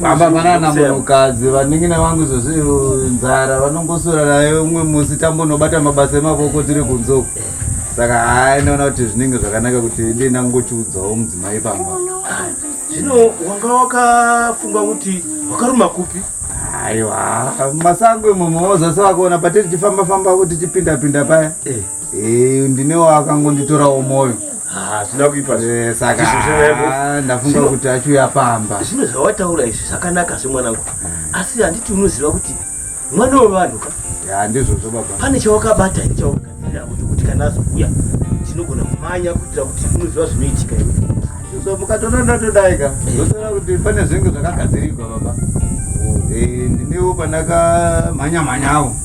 baba vanana munhukadzi vaningina vangu zvozvi nzara vanongosura nayo umwe musi tambonobata mabasa emavoko tiri kunzoko saka hai ndaona kuti zvinenge zvakanaka kuti ndi ndangochiudzawo mudzimai pamba zvino wanga wakafunga kuti wakaruma kupi aiwa masango imomo wozvasa wakaona patiri tifamba famba kuti tipinda pinda paya eh. Eh, ndine waakangonditorawo moyo Ah, zvina kuipa zvi- Eh, saka Izvi zvirevo. ah, ndafunga Zvino- kuti achiuya pamba zvino zvawataura izvi zvakanaka zve mwanangu asi handiti unoziva kuti mwana wevanhu ka ya ndizvozvo baba pane chawakabata ini chawakagadzirira kuti kuti kana azokuya tinogona kumanya kuitira kuti unoziva zvinoitika iwe so mukatoda ndatodai ka ndotoona kuti pane zvinenge zvakagadzirirwa baba eh, ndinewo pandakamhanya mhanyawo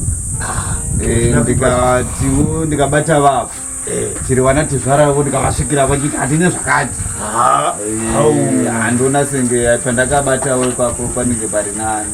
ah, eh, ndikatiwo ndikabata vavo eh. chiri vana tizvaravo ndikavasvikira vachiti handine zvakati ah, handiona senge pandakabatawo ipapo panenge pari nani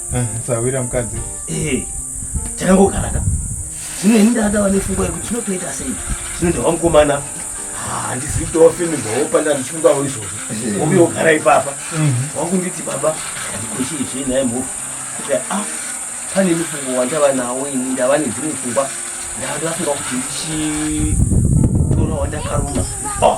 Eh, sahwira mukadzi eh, chakangogara ka zvino ini ndakadava nepfungwa yekuti zvinotoita sei zvino ndava mukomana ah, handizivi kuti wafemigwawo panda ndichifungawo izvozvo eh. ovi ogara ipapa mhm. wakunditi baba handikochiizve naye mhofu kuti a ah, pane mufungo wandava nawo ini ndava nedzimwe pfungwa ndava ndafunga kuti ndichitora wandakaruma ah.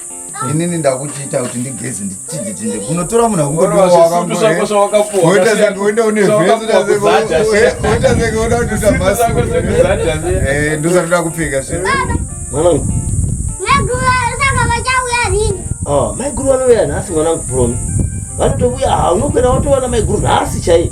inini ndakuchiita kuti ndigeze ndichididinde kunotora munhu akuoita senge uenda une veoita senge uda kutoita masi eh, ndosatoda kupfeka zve ah, maiguru vanouya nhasi mwanangu promi vanotovuya ah, unokwera watowana maiguru nhasi chaiye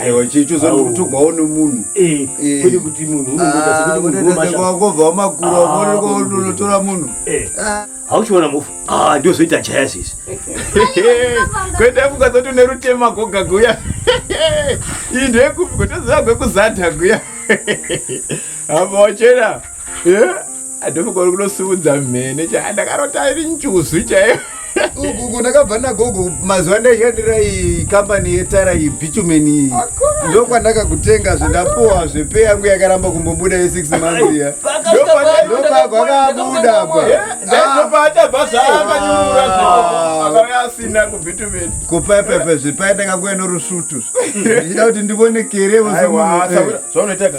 aiwa chechozotogwawo nomunhu eh, eh. kwete kuti munhu unongotaakobva wamakura unonotora ah, munhu eh. ah. hauchiona mufu ah, ndiozoita chaya sisi kwete kukazoti une rutema goga guya iyi ndoyekupi kutozivagwe kuzadha guya apa wachena adhofuka uri kunosiudza mhene chaya ndakarota iri njuzu chaiyo uku ndakabva nagogo mazuva ndaishandira iyi kambani yetara iyi bitumen iyi ndokwandaka kutenga zvendapuwa zvepe yangu yakaramba kumbobuda yesix months iya ndopako akabuda paachabva zvaakanyurura akauya asina kubitumen kupepepe zvepaendaka kuya norusvutu ndichida kuti ndivone kerevo zvaunoitaka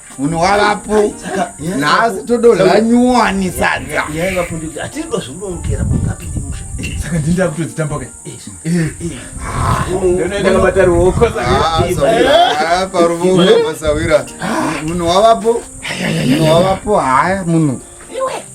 munhu wavapo nhasi tododla nyuwani sadza saka ndinda kutodzitamba ka paruvooasawira munhu wavapo munhu wavapo haya munhu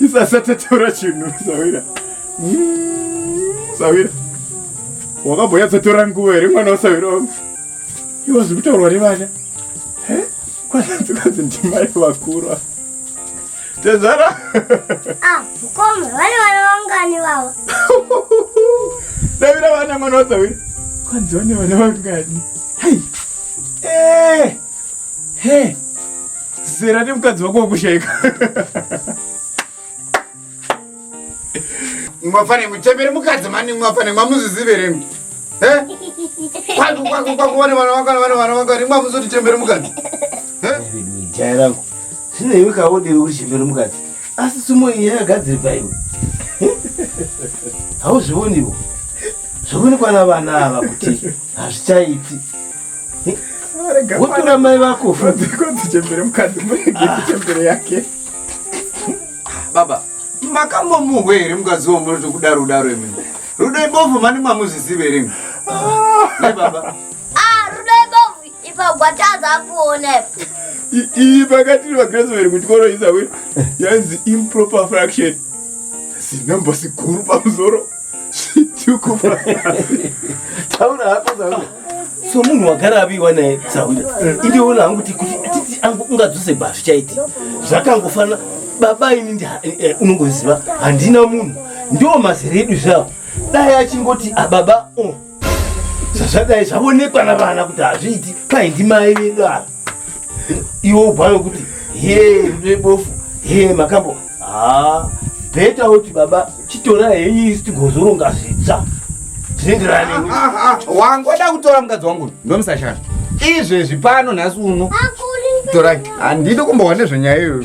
isasataura chinhu sawira sawira wakamboyatsotora nguva here mwana wasawira wangu iwo zviri kutaurwa nevana kwananzikanzi ndimai vakura tezvara ah, mukoma vane vana vangani vavo sawira vana mwana wasawira kwanzi vane vana vangani hai eh, he zera nemukadzi wako wakushaika mwafanire muchembere mukadzi mani mwafanire mwamuzviziveremi kwakuone vana vakana vana vana vakana imwe amuzoti chembere mukadzi jaya rangu zvino iwe kaodiri kuti chembere mukadzi asi sumo iyi yakagadziri paiwe hauzvioniwo zvoonekwa navana ava kuti hazvichaiti wotora mai vako fukodzichembere mukadzi murege kuchembere yake baba makambomuhwa here mukadzi wo munoti kuda ruda rwemene rudo ibovu mani mamuzvizive here mi ah. baba ah, rudo ibovu ipa gwatadza kuona iyi pakati vagrasmary kuti koroisa we yanzi improper fraction zinombo siguru pamusoro Chituko. Taura hako zvauri. So munhu wagara abiwa naye Saunda. Eh. Indiona hangu kuti kuti titi angu ungadzose bva zvichaiti. Zvakangofana baba ini ndi eh, eh, unongoziva handina munhu. Ndiwo mazere edu zvavo. Dai achingoti ababa ah, oh zvazvadai zvavonekwa navana kuti hazviiti kwai ndimai vedu ava iwo ubwayo kuti hee rudo ibofu hee makambo haa bheta woti baba chitora henyu isi tigozoronga zvitsva zvinenderana newe Ah, ah, ah, wangoda kutora mukadzi wangu uyu ndomusashanda izvezvi pano nhasi uno torai handidi kumbohwa nezvenyaya iyoyo